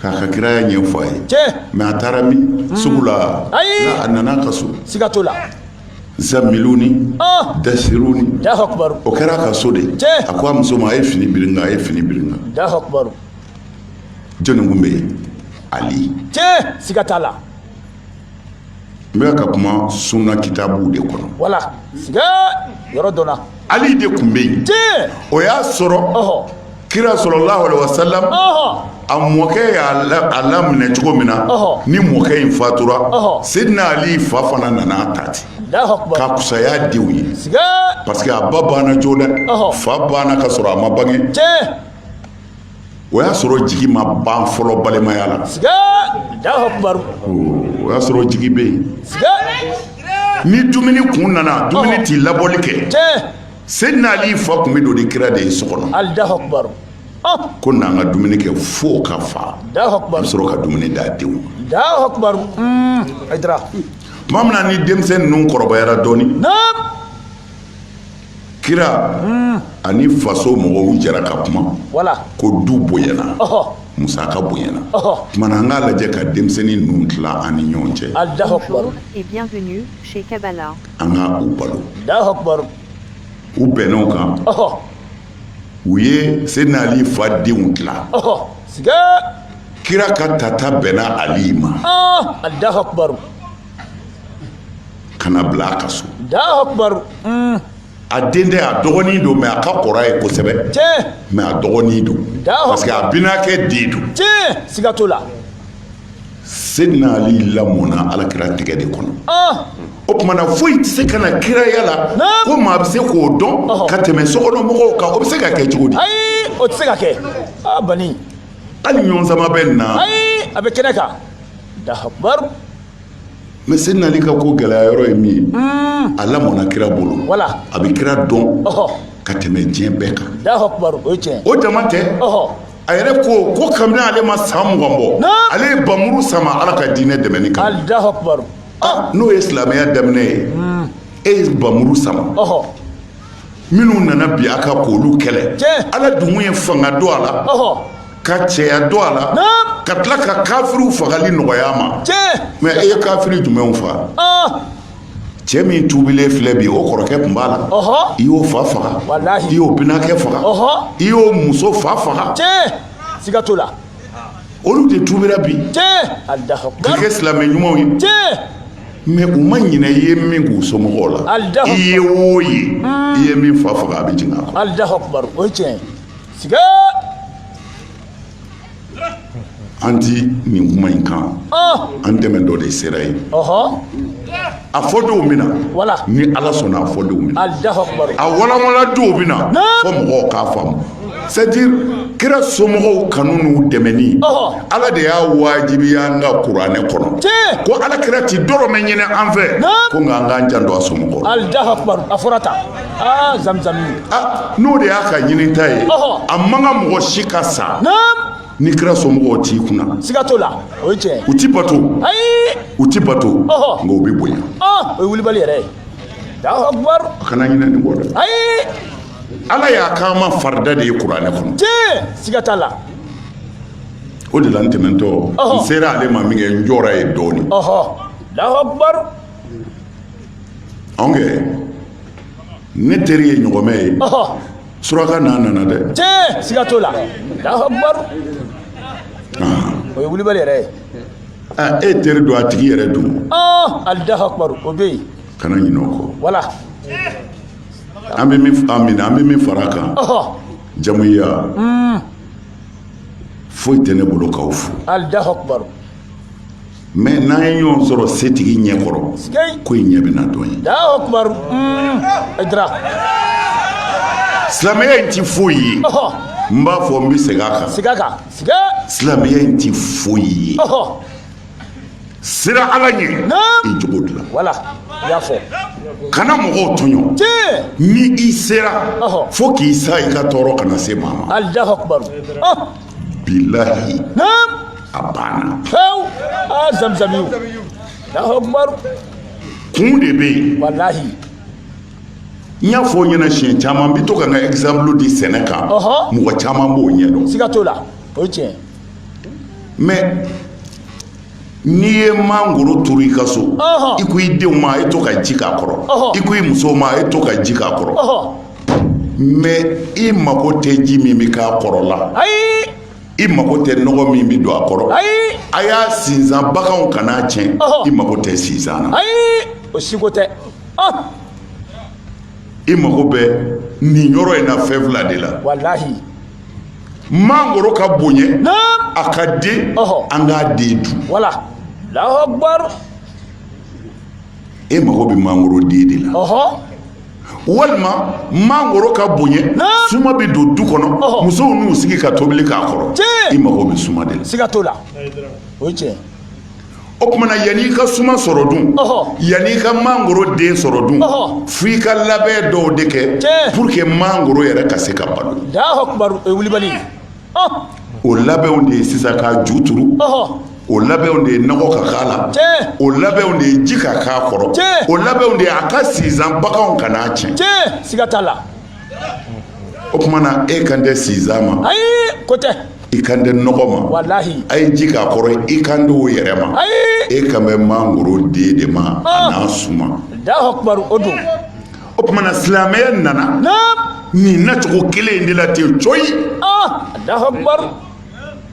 A: k'a ka kiraya ɲɛfɔ a ye tiɲɛ mais a taara min sugu la Ayi. a nana a ka so siga t'o
B: la zamiluni
A: ɔ dasiruni alahu akubar o
B: kɛra a ka so de
A: tiɲɛ. a ko a muso ma a ye fini biri n kan a ye fini biri n kan alahu akubar jɔnni kun bɛ yen ali tiɲɛ siga
B: t'a
A: la n bɛ ka kuma sunna kitabuw de kɔnɔ wala siga
B: yɔrɔ dɔ la ali de kun bɛ yen
A: tiɲɛ o y'a sɔrɔ ɔhɔ kira sallallahu alaihi wasallam ɔhɔ a mɔkɛ y'a la- a laminɛ cogo min na Ɔhɔ. ni mɔkɛ in fatura Ɔhɔ. Seydina ali fa fana nana a ta ten alahu akubar ka kusaya denw ye siga parce que a ba banna joona Ɔhɔ. fa banna ka sɔrɔ a ma bange tiɲɛ o y'a sɔrɔ jigi ma ban fɔlɔ balimaya la o y'a sɔrɔ jigi bɛ yen ni dumuni kun nana dumuni ti labɔli kɛ sedina ali fa kun bɛ don ni kira de ye so kɔnɔ ko n'an ka dumuni kɛ fo ka fa a bɛ sɔrɔ ka dumuni d'a denw ma tuma min na ni denmisɛn ninnu kɔrɔbayara dɔɔnin kira ani faso mɔgɔw jɛra ka kuma ko
B: du
A: bonyana musaka bonyana o tuma na an k'a
B: lajɛ ka
A: denmisɛnnin ninnu tila an ni ɲɔgɔn cɛ
C: an ka u
B: balo
A: u bɛnn'o
B: kan
A: u ye sedina ali fa denw tila
B: kira
A: ka tata bɛnna ali ma ka n'a bila a ka so a den tɛ a dɔgɔnin don mais a ka kɔrɔ a ye kosɛbɛ mais a
B: dɔgɔnin don
A: parce que a binakɛ den don siga t'o la sedina ali lamɔna alakira tɛgɛ de kɔnɔ ah. o tumana foyi tɛ se ka na kiraya la ko maa bɛ se k'o dɔn ka tɛmɛ sokɔnɔ mɔgɔw kan o bɛ se ka kɛ cogo di ayi o tɛ se ka kɛ
B: a ah, bani hali
A: ɲɔgɔn sama bɛ nin na ayi a bɛ kɛnɛ kan
B: mais
A: sedina ali ka ko gɛlɛya yɔrɔ ye min ye a lamɔna kira bolo wala a bɛ kira
B: dɔn
A: ka tɛmɛ
B: diɲɛ
A: bɛɛ kan
B: o dama tɛ
A: a
B: yɛrɛ
A: ko ko kabini ale ma san mugan bɔ ale ye bamuru sama ala ka diinɛ dɛmɛni
B: kan n'o ye
A: silamɛya daminɛ ye e ye bamuru sama minnu nana bin a kan k'olu kɛlɛ ala dun
B: ye
A: fanga don a la
B: ka cɛya
A: don a la ka tila ka kafiriw fagali nɔgɔya a ma mais e ye
B: kafiri
A: jumɛnw faga cɛ min tuubilen filɛ bi o kɔrɔkɛ tun b'a la i y'o fa faga i y'o binakɛ
B: faga
A: i y'o
B: muso
A: fa faga
B: olu
A: de tuubira
B: bi ka kɛ silamɛ
A: ɲumanw
B: ye mais u
A: ma ɲinɛ i ye min k'u somɔgɔw la i ye
B: o ye
A: i ye min fa faga a bɛ jigin a kɔnɔ an ti nin kuma in kan an tɛmɛtɔ de sera yen a fɔdon bɛ na wala ni
B: ala sɔnna
A: a fɔdon bɛ na
B: a
A: walanwalandon bɛ na fo mɔgɔw k'a faamu c'est à dire kira somɔgɔw kanu n'u dɛmɛni ala de y'a wajibiya an ka kuranɛ kɔnɔ ko ala
B: kira
A: ti dɔrɔmɛ ɲini an fɛ ko nka an k'an janto a somɔgɔw la a
B: fɔra tan ah, n'o de
A: y'a ka ɲinita ye a man kan mɔgɔ si ka sa ni kira somɔgɔw t'i kunna siga t'o la o
B: ye tiɲɛ u ti bato
A: ayi
B: u ti
A: bato Ɔhɔ. nka u bɛ bonya Ah, o ye wulibali yɛrɛ
B: ye Allahu akbar a kana ɲinɛ nin kɔ dɛ
A: ayi
B: ala y'a
A: k'an ma farida de ye kuranɛ kɔnɔ tiɲɛ siga
B: t'a
A: la o de la n tɛmɛntɔ n Ɔhɔ. sera ale ma min kɛ n jɔra yen dɔɔni ɔhɔ Allahu
B: akbar
A: anw kɛ ne teri ye ɲɔgɔmɛ ye suraka n'a nana dɛ tiɲɛ siga t'o
B: la Allahu akbar ah. o ye wulibali yɛrɛ ye ah, e teri don a tigi
A: yɛrɛ dun ah, Allahu
B: akbar o bɛ yen kana ɲinɛ o
A: kɔ wala an bɛ min an minɛ an bɛ min fara a kan jamuya hmm. foyi tɛ ne bolo k'aw fo Allahu akbar mais n'an ye ɲɔgɔn sɔrɔ setigi ɲɛ kɔrɔ ko in ɲɛ bɛna dɔn yen silamɛya in ti foyi ye n b'a fɔ n bɛ segin a kan segin a kan
B: silamɛya in ti
A: foyi ye siran ala ɲɛ i jogo dilan wala i
B: y'a fɔ kana mɔgɔw
A: tɔɲɔ tiɲɛ ni i sera fo k'i sa i ka tɔɔrɔ kana se maa ma Allahu akbar billahi naam a banna fewu
B: ah, zamzam yu Allahu akbar kun
A: de bɛ yen wallahi n y'a fɔ ɲɛna siɲɛ caman n bɛ to ka n ka exemple di sɛnɛ kan mɔgɔ caman b'o ɲɛdɔn siga t'o la o ye
B: tiɲɛ mais
A: N'i ye mangoro turu i ka so i ko i denw ma a ye to ka ji k'a kɔrɔ i ko i muso ma a ye to ka ji k'a kɔrɔ mais i mago tɛ ji min bɛ k'a kɔrɔ la i
B: mago tɛ
A: nɔgɔ min bɛ don a kɔrɔ a
B: y'a
A: sinsan baganw kan'a tiɲɛ i mago tɛ sinsan na o si ko tɛ i mago bɛ nin yɔrɔ in na fɛn fila de la mangoro ka bonya a ka den an k'a den dun wala
B: Allahu
A: akbar e mago bɛ mangoro den de la walima mangoro ka bonya suma bɛ don du kɔnɔ musow n'u sigi ka tobili k'a kɔrɔ i mago bɛ suma de la siga t'o la
B: o ye tiɲɛ
A: O tuma na yan' i ka suma sɔrɔ dun yan' i ka mangoro den sɔrɔ dun f'i ka labɛn dɔw de kɛ pour que mangoro yɛrɛ ka se ka balo wulibali o labɛnw de ye sisan
B: k'a
A: ju turu o labɛnw de ye nɔgɔ ka k'a la o labɛnw de ye ji ka k'a kɔrɔ o labɛnw de ye a ka sinsan baganw kan'a tiɲɛ siga la o tuma na e kan tɛ sinsan ma ayi ko tɛ
B: i kan tɛ nɔgɔ
A: ma walahi a ye ji k'a
B: kɔrɔ
A: i kan tɛ o yɛrɛ ma ayi e kan bɛ mangoro den de ma a n'a suma Alahu akibaru o
B: don o tuma na
A: silamɛya nana naam nin nacogo kelen in de la ten coyi ah Alahu
B: akibaru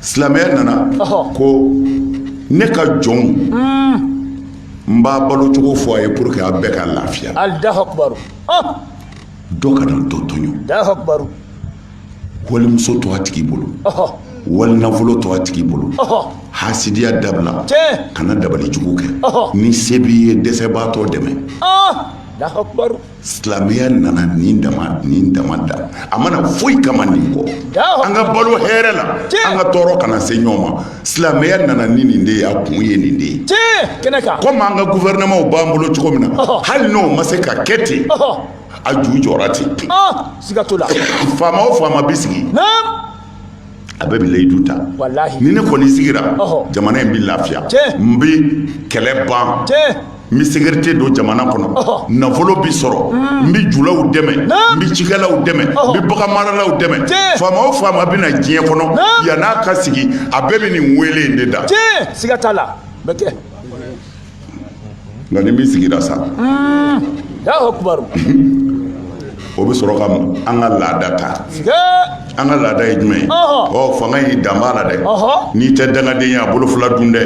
A: silamɛya nana ko ne ka jɔnw hmm. n b'a balo cogo fɔ a ye pour que a bɛɛ ka lafiya Alahu akibaru dɔ kana dɔ tɔɲɔ Alahu akibaru wali muso to a tigi bolo wali nafolo to a tigi bolo hasidiya dabila kana dabali jugu kɛ ni se b'i ye dɛsɛbaatɔ dɛmɛ
B: silamɛya
A: nana nin dama nin dama dan a ma na foyi kama nin kɔ an ka balo hɛrɛ la an ka tɔɔrɔ kana se ɲɔgɔn ma silamɛya nana ni nin de ye a kun ye nin de ye
B: komi an ka
A: gouvernementw b'an bolo cogo min na hali n'o ma se ka kɛ ten a ju jɔra ten siga t'o la
B: faama o faama
A: bɛ sigi a bɛɛ bɛ layidu ta ni ne kɔni sigira jamana in bɛ lafiya n bɛ kɛlɛ ban n bɛ sécurité don jamana kɔnɔ nafolo bɛ sɔrɔ n bɛ julaw dɛmɛ n bɛ cikɛlaw dɛmɛ n bɛ baganmaralaw dɛmɛ faama o faama bɛ na diɲɛ kɔnɔ yann'a ka sigi a bɛɛ bɛ nin weele in de da siga t'a la
B: bɛ kɛ
A: nka ni min sigira sa o bɛ sɔrɔ ka an ka laada ta an ka laada ye jumɛn ye ɔ fanga in dan b'a la dɛ n'i tɛ dangaden ye a bolo fila dun dɛ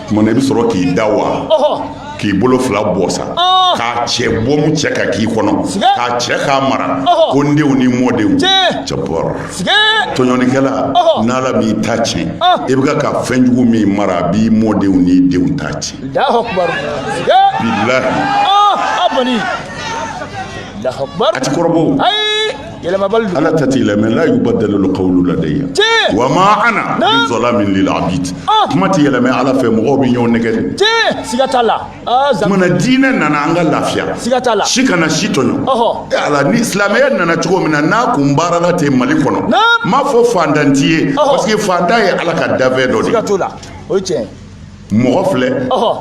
A: Tuma na i bɛ sɔrɔ k'i da wa k'i bolo fila bɔ sa k'a cɛ bɔ cɛ k'a k'i kɔnɔ k'a cɛ k'a mara ko n denw ni mɔdenw cɛ bɔra tɔɲɔnikɛla n'ala m'i ta tiɲɛ i bɛ ka fɛn jugu min mara a b'i mɔdenw n'i denw ta tiɲɛ
B: ala kɔni a tɛ kɔrɔ
A: yɛlɛmabali don ala ta tɛ yɛlɛma la yubaddalu l-qawlu ladayya tiɲɛ wa ma ana bi zalamin lil abid ah. kuma tɛ yɛlɛmɛ ala fɛ mɔgɔw bɛ ɲɔgɔn nɛgɛ de tiɲɛ siga t'a la
B: ah, tuma na diinɛ
A: nana an ka lafiya siga t'a la si
B: kana si
A: tɔɲɔ e ala ni silamɛya nana cogo min na n'a kun baarala ten mali kɔnɔ n m'a fɔ fantan ti ye parce que fantan ye ala ka dafɛn dɔ de ye siga t'o la o ye tiɲɛ
B: mɔgɔ
A: filɛ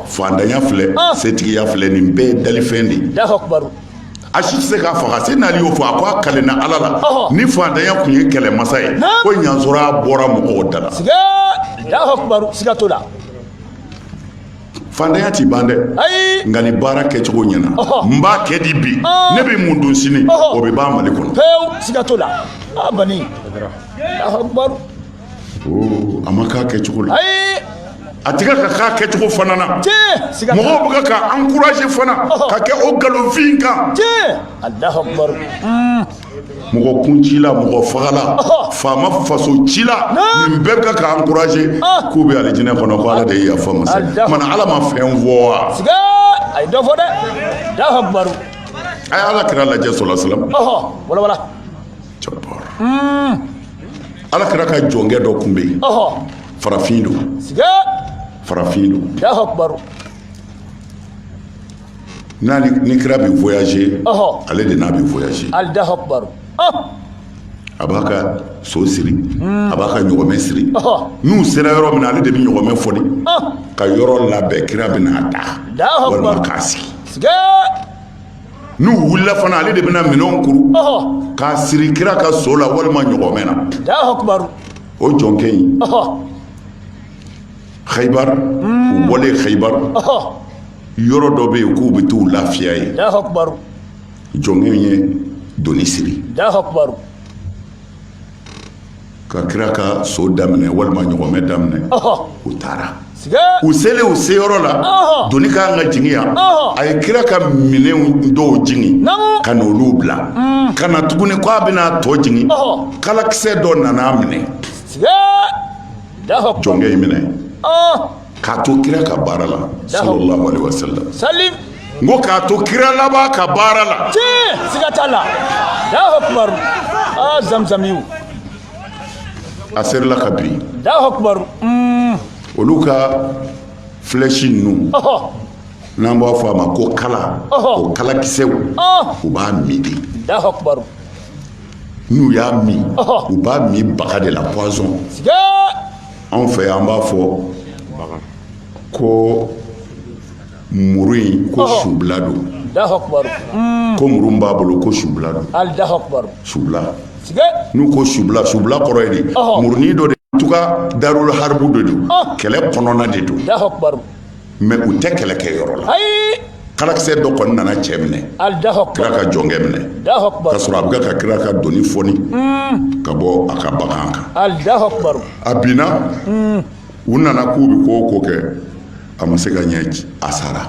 A: fantanya filɛ setigiya filɛ nin bɛɛ ye dalifɛn de
B: ye a si tɛ
A: se k'a faga seyidina ali y'o fɔ a ko a kalenna ala la ni fantanya kun ye kɛlɛmasa ye ko n y'a sɔrɔ a bɔra mɔgɔw da la fantanya ti ban dɛ nka ni baara kɛcogo ɲɛna n b'a kɛ di bi ne bɛ mun dun sini o bɛ ban mali kɔnɔ a ma k'a kɛcogo la a tɛ kan ka k'a kɛcogo fana na mɔgɔw bɛ ka encourager fana ka kɛ o nkalonfin kan mɔgɔ kuncila mɔgɔ fagala faama fasocila nin bɛɛ bɛ ka encourager k'u bɛ alijinɛ kɔnɔ ko ala de ye yafa masa kumana ala ma fɛn fɔ wa a ye dɔ
B: fɔ dɛ a ye ala
A: kira lajɛ sallallahu alaihi wasallam ala kira ka jɔnkɛ dɔ tun bɛ yen farafin don farafin
B: don
A: n'a ni kira bɛ voyager ale de n'a bɛ voyager a b'a ka so siri a b'a ka ɲɔgɔmɛ siri n'u sera yɔrɔ min na ale de bɛ ɲɔgɔmɛ fɔɔni ka yɔrɔ labɛn kira bɛ n'a da walima k'a sigi n'u wulila fana ale de bɛna minɛnw kuru k'a siri kira ka so la walima ɲɔgɔmɛ na
B: o jɔnkɛ
A: in Khaybar u bɔlen Khaybar yɔrɔ dɔ bɛ yen k'u bɛ t'u lafiya
B: yen jɔnkɛ
A: in ye doni siri ka kira ka so daminɛ walima ɲɔgɔmɛ daminɛ u taara u selen u seyɔrɔ la doni ka kan ka jigin yan a ye kira ka minɛn dɔw jigin ka na olu bila ka na tuguni k'a bɛna tɔ jigin kalakisɛ dɔ nana minɛ jɔnkɛ in minɛ k'a to kira ka baara la sallallahu alaihi wasallam n ko k'a to kira laban ka baara la tiɲɛ siga t'a
B: la Allahu akbar aa zamzamiw
A: a serila ka bin Allahu akbar
B: mm.
A: olu ka flèche ninnu n'an b'a fɔ a ma ko kala o kalakisɛw u b'a min de Allahu akbar n'u y'a min u b'a min baga de la poison anw fɛ yan an b'a fɔ ko muru in ko subila don
B: ko muru b'a
A: bolo ko subila don subila n'u ko subila subila kɔrɔ ye de murunin dɔ de en tout cas darul harbu de don kɛlɛ kɔnɔna de don
B: mais u
A: tɛ kɛlɛkɛyɔrɔ la kalakisɛ dɔ kɔni nana cɛ minɛ kira ka jɔnkɛ minɛ k'a sɔrɔ a bɛ ka kira ka doni fɔɔni hmm. ka bɔ a ka bagan kan a binna hmm. u nana k'u bɛ ko o ko kɛ a ma se ka ɲɛ a sara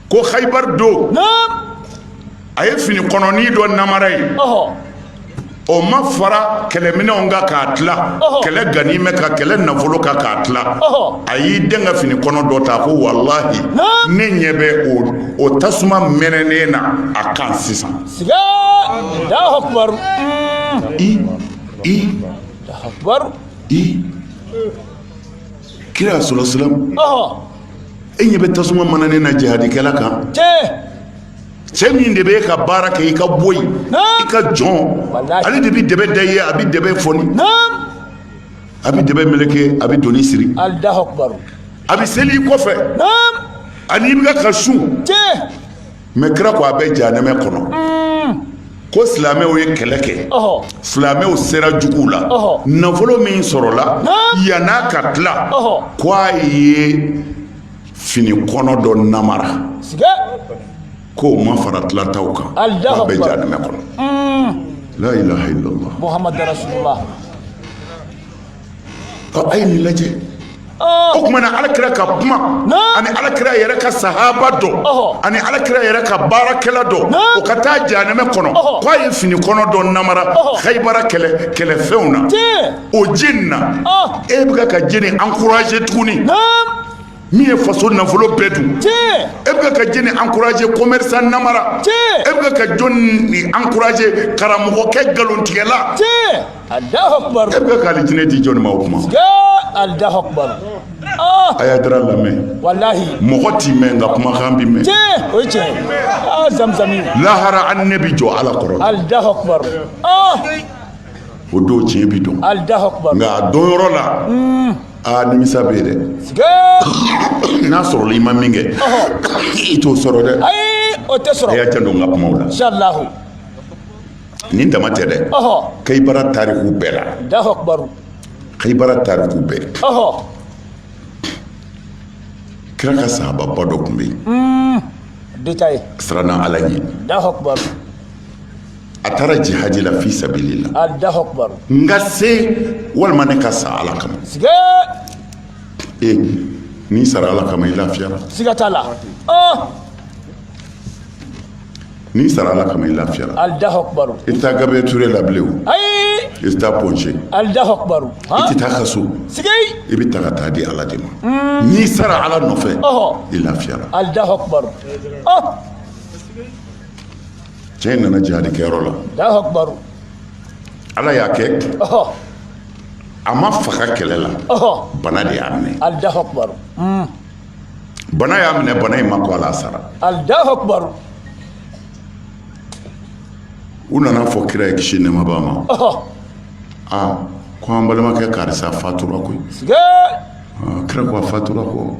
A: ko hayibar don a ye fini kɔnɔni dɔ namara ye o ma fara kɛlɛminɛnw kan k'a tila kɛlɛ ganimɛ kan kɛlɛ nafolo kan k'a tila a y'i dɛn ka fini kɔnɔ dɔ ta ko walahi ne ɲɛ bɛ o tasuma mɛnɛnen na a kan sisan kira sala salam e ɲɛ bɛ tasuma mɛnɛnen na jihadikɛla kan cɛ min de bɛ e ka baara kɛ i ka boyi i ka jɔn ale de bɛ dɛbɛ da i ye a bɛ dɛbɛ fɔni a bɛ dɛbɛ meleke a bɛ doni siri a bɛ seli i kɔfɛ a ni i bɛ ka sun mɛ kira ko a bɛ janɛmɛ kɔnɔ ko silamɛw ye kɛlɛ kɛ silamɛw sera juguw la nafolo min sɔrɔla yann'a ka tila ko a ye fini kɔnɔ dɔ namara ko o ma fara tilataw kan a bɛ janɛmɛ kɔnɔ la ilaha illallah a ye nin lajɛ o kuma na ala kira ka kuma ani ala kira yɛrɛ ka sahaba dɔ ani ala kira yɛrɛ ka baarakɛla dɔ o ka taa janɛmɛ kɔnɔ k' a ye fini kɔnɔ dɔ namara hayibara kɛlɛfɛnw na o jenina e bɛ ka jɛni ankuraje tuguni min ye faso nafolo bɛɛ dun e bɛ ka jɛni ankuraje kɔmɛrisan namara e bɛ ka jɔnni ankuraje karamɔgɔkɛ nkalontigɛla e bɛ ka alijinɛ di jɔnni ma o kuma ah! a y'ayidara lamɛn mɔgɔ tɛ mɛɛn nka kumakan bɛ mɛɛn ah, lahara an ne bɛ jɔ ala kɔrɔ ah! o don tiɲɛ bɛ dɔn nka a dɔn yɔrɔ la hmm. aa nimisa bɛ yen dɛ sigee n'a sɔrɔla i ma min kɛ i t'o sɔrɔ dɛ ayi o tɛ sɔrɔ a y'a janto n ka kumaw la inshallah nin dama tɛ dɛ ɔhɔ kayibara tariku bɛɛ la Allahu akbar kayibara tariku bɛɛ ɔhɔ kira ka sahababa dɔ tun bɛ yen dɛ a siranna ala ɲɛ Allahu akbar a taara jihadi la fi sabilillah n ka se walima ne ka sa ala kama ee n'i sara ala kama i lafiyara siga t'a la n'i sara ala kama i lafiyara i tɛ taa gabriel ture la bilen o i tɛ taa Point G i tɛ taa kaso i bɛ ta ka taa di ala de ma n'i sara ala nɔfɛ i lafiyara cɛ in nana jihadi kɛyɔrɔ la Allahu akbar. ala y'a kɛ Ɔhɔ, a ma faga kɛlɛ la ɔhɔ, bana de y'a minɛ Allahu akbar. bana y'a minɛ bana in ma kɔ a la sara Allahu akbar. u nana fɔ kira ye kisi nɛɛma b'a ma Ɔhɔ, aa ko an balimakɛ karisa fatura koyi siga. Aa, kira ko a fatura ko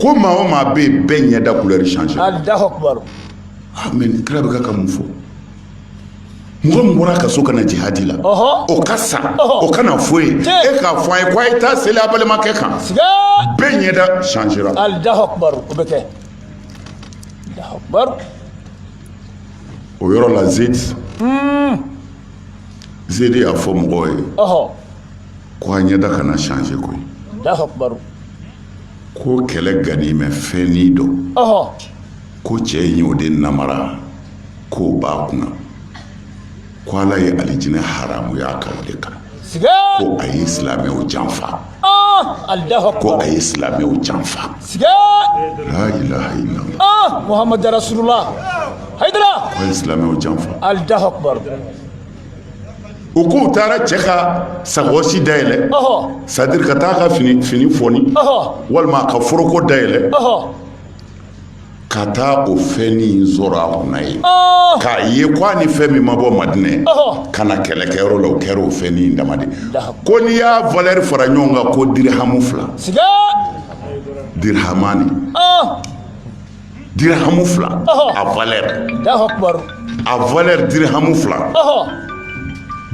A: ko maa o maa bɛ yen bɛɛ ɲɛda kulɛri sanze ah,
B: mɛ
A: nin kira bɛ ka ka mun fɔ mɔgɔ min bɔra ka so ka na jihadi la o ka sa o ka na fɔ i ye e k'a fɔ an ye ko a ye taa seli a balimakɛ kan bɛɛ ɲɛda sanzera o yɔrɔ la zedi hmm. zedi y'a fɔ mɔgɔw ye ko a ɲɛda kana change koyi ko kɛlɛ ganimɛ fɛn nin dɔ ko cɛ in y'o de namara k'o b'a kunna ko ala ye alijinɛ haramuya a kan o de kan ko a ye silamɛw janfa ko a ye silamɛw janfa la ilaha illallah muhamadu rasulullah
B: hayidara ko a ye silamɛw
A: janfa u k'u taara cɛ ka sakɔsi dayɛlɛ c'est-à-dire ka taa ka fini fini fɔni walima ka foroko dayɛlɛ ka taa o fɛn nin sɔrɔ a kunna yen k'a ye ko a ni fɛn min ma bɔ madinɛ ka na kɛlɛkɛyɔrɔ la o kɛra o fɛn nin dama de ko n'i y'a valɛri fara ɲɔgɔn kan ko dirihamu fila dirihamani dirihamu fila a valɛri a valɛri dirihamu fila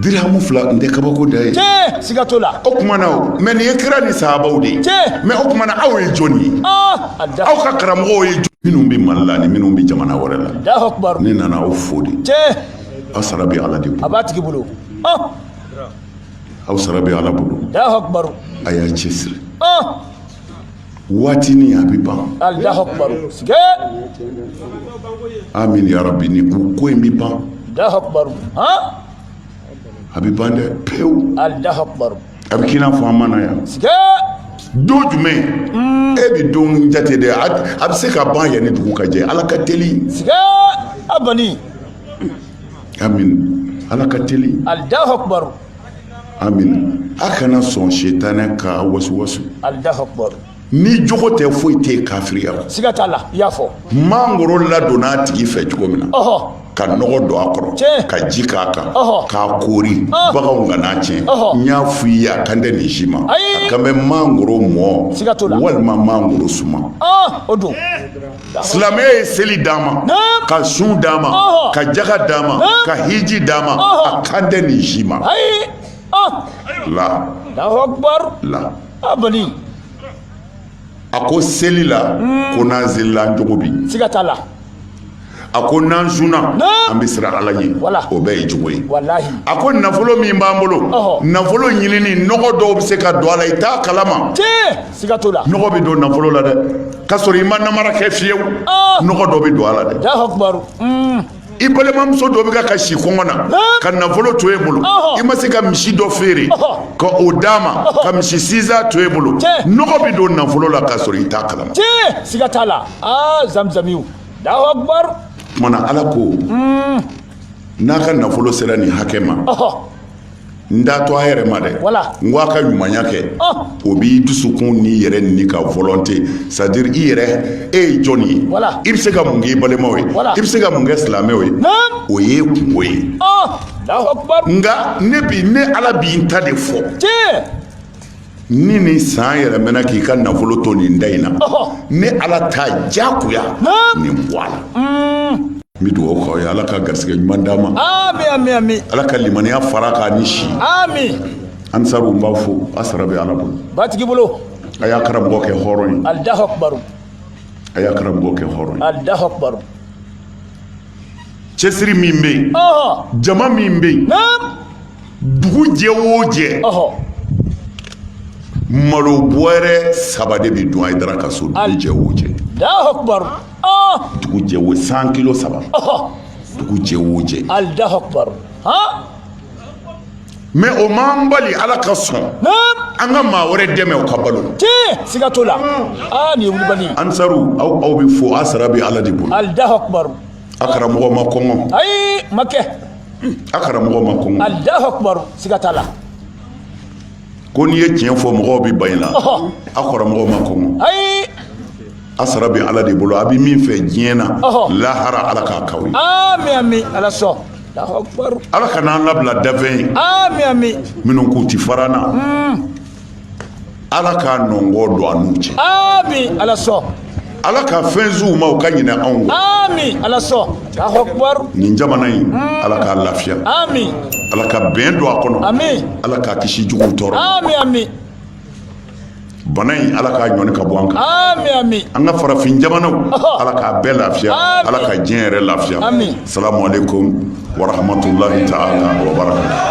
A: dirihamu fila n tɛ kabako da ye siga t'o la o
B: tuma na o mɛ nin ye
A: kira ni sahabaw de ye mɛ o tuma na aw ye jɔnni ye aw ka karamɔgɔw ye jɔn minnu bɛ mali la ni minnu bɛ jamana wɛrɛ la ne nana aw fo de aw sara bɛ ala de bolo a b'a tigi bolo aw sara bɛ ala bolo a
B: y'a cɛsiri
A: waati ni a bɛ ban amin yarabi ni ko ko in bɛ ban a bɛ ban dɛ pewu
B: a bɛ k'i n'a fɔ an
A: ma na
B: yan
A: don jumɛn e bɛ don jate de a bɛ se ka ban yanni dugu ka jɛ ala ka teli
B: a ala
A: ka teli amin a kana sɔn sitanɛ ka wasuwasu
B: ni jogo tɛ
A: foyi tɛ kafiriya siga t'a la i y'a fɔ
B: mangoro
A: ladonna a tigi fɛ cogo min na ka nɔgɔ don a kɔrɔ ka ji k'a kan k'a koori baganw kan'a tiɲɛ n y'a fɔ i ye a kan tɛ nin si ma a kan bɛ mangoro mɔ walima mangoro suma o don silamɛya ye seli d'a ma ka sun d'a ma ka jaga d'a ma ka hiji d'a ma a kan tɛ nin si ma la
B: la a
A: ko seli la hmm. ko n'an selila jogo bi siga t'a
B: la a
A: ko n'an sunna an bɛ siran ala ɲɛ o bɛɛ ye jogo ye a ko nafolo min b'an bolo nafolo ɲinini nɔgɔ dɔw bɛ se ka don a la i t'a kalama siga t'o
B: la nɔgɔ bɛ don nafolo la
A: dɛ k'a sɔrɔ i ma namara kɛ fiyewu ah! nɔgɔ dɔ bɛ don a la dɛ
B: hmm. i
A: balimamuso dɔ bɛ ka kasi kɔngɔ na ka nafolo to e bolo i ma se ka misi dɔ feere ka o d'a ma ka misi sinzan to e bolo nɔgɔ bɛ don nafolo la k'a sɔrɔ i t'a kalama siga t'a
B: la ah, zamzamiw kumana ala ko
A: hmm. n'a ka nafolo sera nin hakɛ ma n t'a to a yɛrɛ ma dɛ n ko a ka ɲumanya kɛ o b'i dusukun n'i yɛrɛ ni ka volonté c'est-à-dire i yɛrɛ e ye jɔn ye i bɛ se ka mun kɛ i balimaw ye i bɛ se ka mun kɛ silamɛw ye o ye kunko ye nka ne bi ne ala bi n ta de fɔ ni nin san yɛlɛmana k'i ka nafolo to nin da in na ne ala ta jagoya nin bɔ a la n bɛ dugawu k'aw ye ala ka garisɛgɛ ɲuman d'a ma ala
B: ka limaniya
A: fara a kan ni
B: si ansaru n
A: b'aw fo a sara bɛ ala bolo batigi
B: bolo a y'a karamɔgɔ kɛ
A: hɔrɔn ye a
B: y'a
A: karamɔgɔ kɛ hɔrɔn ye cɛsiri min bɛ yen jama min bɛ yen dugu jɛ o jɛ malo bɔrɛ saba de bɛ dun hayidara ka so dugu jɛ o
B: jɛ
A: dugu jɛ o cent kilo saba dugu jɛ o jɛ mais o m'an bali ala ka sɔn an ka maa wɛrɛ dɛmɛ o ka balo siga t'o
B: la aa nin ye wulibali ansaru aw
A: bɛɛ fo a sara bɛ ala de bolo alahu akubaru
B: a karamɔgɔ
A: ma kɔngɔ ayi ma
B: kɛ a
A: karamɔgɔ ma kɔngɔ alahu akubaru
B: siga t'a
A: la ko n'i ye tiɲɛ fɔ mɔgɔw bɛ ban i la a karamɔgɔ ma kɔngɔ ayi
B: A
A: sara bɛ ala de bolo a bɛ min fɛ diɲɛ na lahara ala k'a k'aw ye
B: ala sɔn ala kan'an labila
A: danfɛn ye minnu k'u tɛ fara
B: an na
A: ala k'a nɔngɔn don an n'u cɛ ala
B: sɔn ala
A: ka fɛn sin u ma u ka ɲinɛ anw kɔ
B: ala sɔn nin jamana in
A: ala k'a lafiya ala
B: ka bɛn
A: don a kɔnɔ ala k'a kisi
B: jugu
A: tɔɔrɔ bana in ala k'a ɲɔni ka bɔ an kan amin amin an ka
B: farafin jamanaw
A: ala k'a bɛɛ lafiya ala ka diɲɛ yɛrɛ lafiya amin salamu
B: alaikum
A: wa rahmatullahi ta'ala wa barakatuh